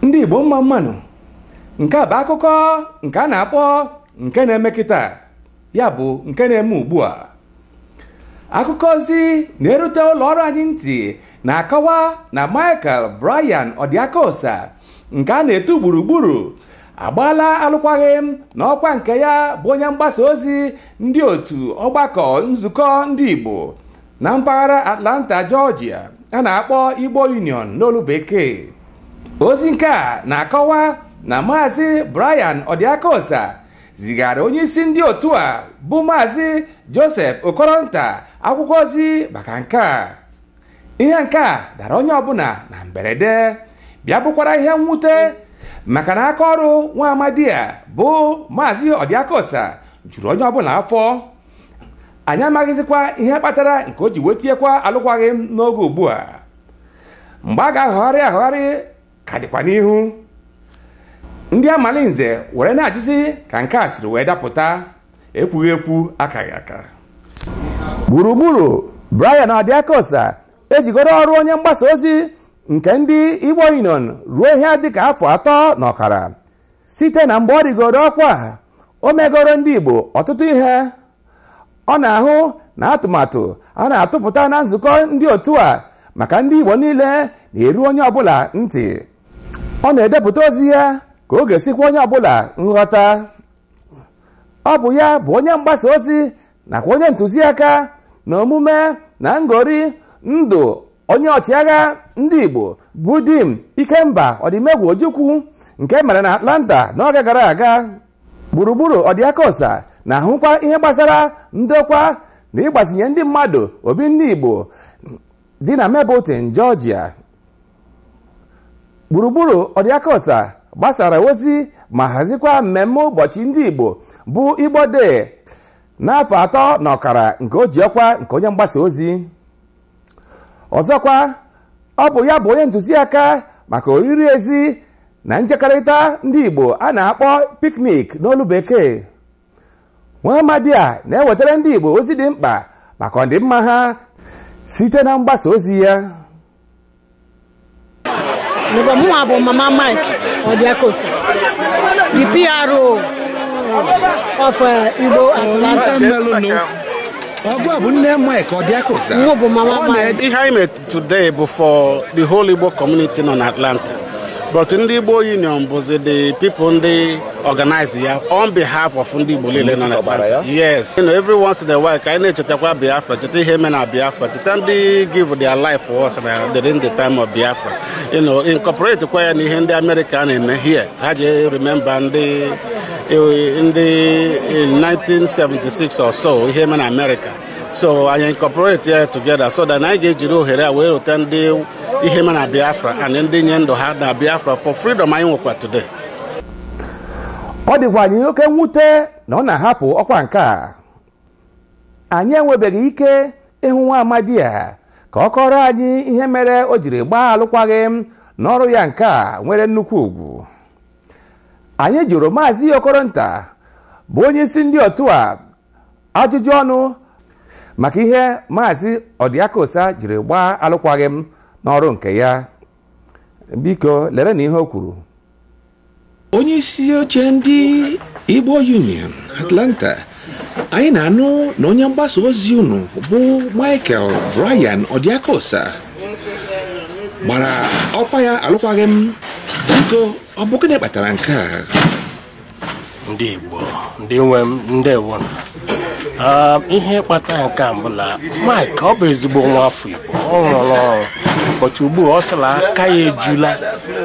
ndị igbo mma mma nụ nke a bụ akụkọ nke a na-akpọ nke na-eme kịta ya bụ nke na-eme ugbu a akụkọ ozi na-erute ụlọ ọrụ anyị ntị na-akọwa na Michael Brian Ọdịakosa nke a na-etu gburugburu agbaala alụkwaghị m na ọkwa nke ya bụ onye mgbasa ozi ndị otu ọgbakọ nzukọ ndị Igbo na mpaghara Atlanta Georgia a na-akpọ Igbo Union n'olu bekee ozi nke a na-akọwa na maazị Brian Ọdịakosa zigara onye isi ndị otu a bụ maazị Joseph Okoronta akwụkwọ ozi maka nke a ihe nke a dara onye ọbụla na mberede bịa bụkwara ihe mwute maka na aka ọrụ nwa amadi a bụ maazị Ọdịakosa juru onye ọbụla afọ anyị amaghịzikwa ihe kpatara nke o ji wee tiekwa alụkwaghị m n'oge ugbu a mgbe a ga-ahọgharị ahọgharị ka dịkwa n'ihu ndị amalinze were na-ajụzi ka nke a siri wee dapụta ekwughị ekwu akaghị aka gburugburu Brian Ọdịakosa ejigoro ọrụ onye mgbasa ozi nke ndị Igbo Union ruo ihe dịka afọ atọ na ọkara site na mgbe ọ rịgoro ọkwa o megoro ndị Igbo ọtụtụ ihe ọ na-ahụ na atụmatụ a na-atụpụta na nzukọ ndị otu a maka ndị Igbo niile na-eru onye ọbụla ntị ọ na-edepụta ozi ya ka ọ ga-esi kwe onye ọbụla nghọta ọ bụ ya bụ onye mgbasa ozi nakwa onye ntụziaka na omume na ngori ndụ onye ọchịagha ndị Igbo bụ Dim Ikemba Odumegwu Ojukwu nke mere na Atlanta n'oge gara aga gburugburu Ọdịakosa na-ahụkwa ihe gbasara ndokwa na ịgbazinye ndị mmadụ obi ndị igbo dị na Mableton Georgia gburugburu Ọdịakosa gbasara ozi ma hazikwa mmemme ụbọchị ndị igbo bụ Igbo Day n'afọ atọ na ọkara nke o ji ọkwa nke onye mgbasa ozi ọzọkwa ọ bụ ya bụ onye ntụziaka maka oriri ezi na njekọrịta ndị igbo a na-akpọ picnic n'olu bekee nwa amadi a na-ewetara ndị igbo ozi dị mkpa maka ọdịmma ha site na mgbasa ozi ya mụnwa bụ mama mike ọdịakosa the PRO of uh, igbo atlanta ọgụ a bụ nne mike ọdịakosa ihe anyị Today bụ for the whole Igbo community nọ n'Atlanta but ndị Igbo Union bụzi the people ndị organize ya on behalf of ndị Igbo niile nọ n'Atlanta yes you know, every once in a while ka anyị na-echetakwa Biafra cheta ihe mere na Biafra cheta ndị give their life for us na during the time of Biafra you know incorporate kwa ya na ihe ndị America na-eme here ha ji remember ndị ndị in 1976 or so ihe mere na America so anyị incorporate ya together so that anyị ga-ejiri ohere a wee rota ndị ihe mere na biafra and ndị nye ndụ ha na biafra for freedom anyị nwekwa today ọ dịkwa anyị oke mwute na ọ na-ahapụ ọkwa nke a anyị enwebeghị ike ịhụ nwa amadi a ka ọ kọrọ anyị ihe mere o jiri gbaa alụkwaghịm n'ọrụ ya nke a nwere nnukwu ugwu anyị jụrụ maazị okoronta bụ onye isi ndị otu a ajụjụ ọnụ maka ihe maazị ọdịakosa jiri gbaa alụkwaghị m n'ọrụ nke ya biko lere na ihe o kwuru onye isi oche ndị Igbo Union Atlanta anyị na-anụ na onye mgbasa ozi unu bụ Michael Brian Ọdịakosa gbara ọkwa ya alụkwaghị m biko ọ bụ gịnị kpatara nke a ndị Igbo ndị nwe m ndewo ah, ihe kpatara nke a bụ la Mike ọ bụ ezigbo nwa afọ Igbo ọ rụrụ ọrụ but ugbu a ọ sị la aka ya ejula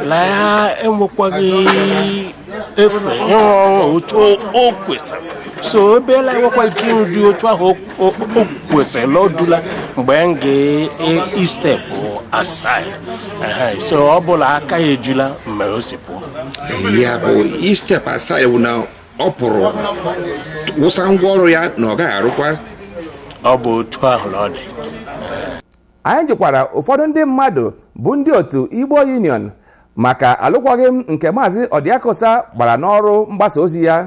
la ya enwekwaghị efe ịrụ ọrụ otu o kwesịrị so ebeela enwekwa ike ịrụdi otu ahụ o kwesịrị la o dula mgbe m ga-estep e, aside so ọ bụ la aka ya ejula mere o si pụọ ya bụ ịstep aside bụ na ọ pụrụ wụsa ngwa ọrụ ya na ọ gaghị arụkwa ọ bụ otu ahụ na ọ dị anyị jụkwara ụfọdụ ndị mmadụ bụ ndị otu igbo union maka alụkwaghịm nke maazị ọdịakosa gbara n'ọrụ mgbasa ozi ya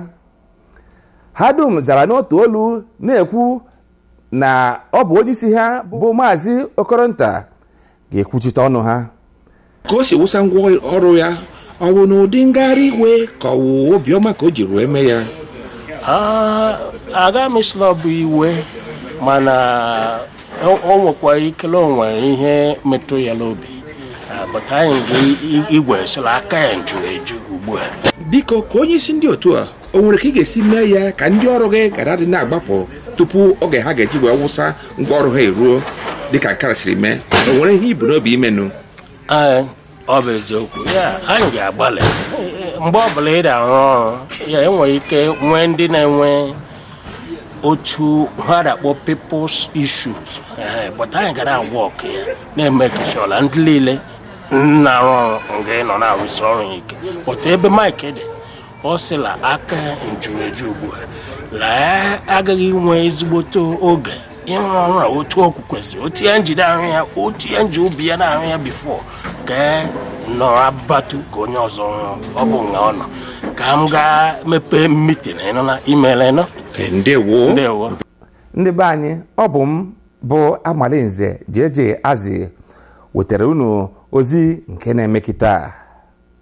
ha dum zara n'otu olu na-ekwu na ọ bụ onye isi ha bụ maazị okoronta ga-ekwuchite ọnụ ha ka o si wụsa ngwa ọrụ ya ọ bụ n'ụdị ngagharị iwe ka ọ wụ obiọma ka o jiri mee ya aga m asị la ọ bụ iwe mana o nwekwa ike la o nwe ihe metụ ya n'obi but anyị ga igwe sị la aka ya juru eju ugbu a dị ka onye isi ndị otu a o nwere ka ị ga-esi mee ya ka ndị ọrụ gị ghara ịdị na-agbapụ tupu oge ha ga-eji wee wụsa ngwa ọrụ ha eruo dịka nkara siri mee o nwere ihe i bu n'obi ime nụ Ee, ọ bụ eziokwu ya anyị ga-agbalị mgbe ọbụla ị na-arụ ọrụ ya enwere ike nwee ndị na-enwe otu ha da-akpọ people's issues Ee, but anyị ga na-anwa oko ya na-emake sure la ndị niile na-arụ ọrụ nga ị nọ na-arụsi ọrụ ya ike but ebe Mike dị ọ sị la aka njuru eju ugbu a na ya agaghị inwe ezigbote oge ịrụ ọrụ a otu o kwesịrị otu ya nji da-arụ ya otu ya nji obi ya na-arụ ya before ka e nọ abatu ka onye ọzọ rụọ ọ bụ nga ọ nọ ka m gaa mepee meeting ịnụ na imere nọ eh, ndewo ndewo ndị be anyị ọ bụ m bụ Amalinze Jeje Azi wetara unu ozi nke na-eme kịta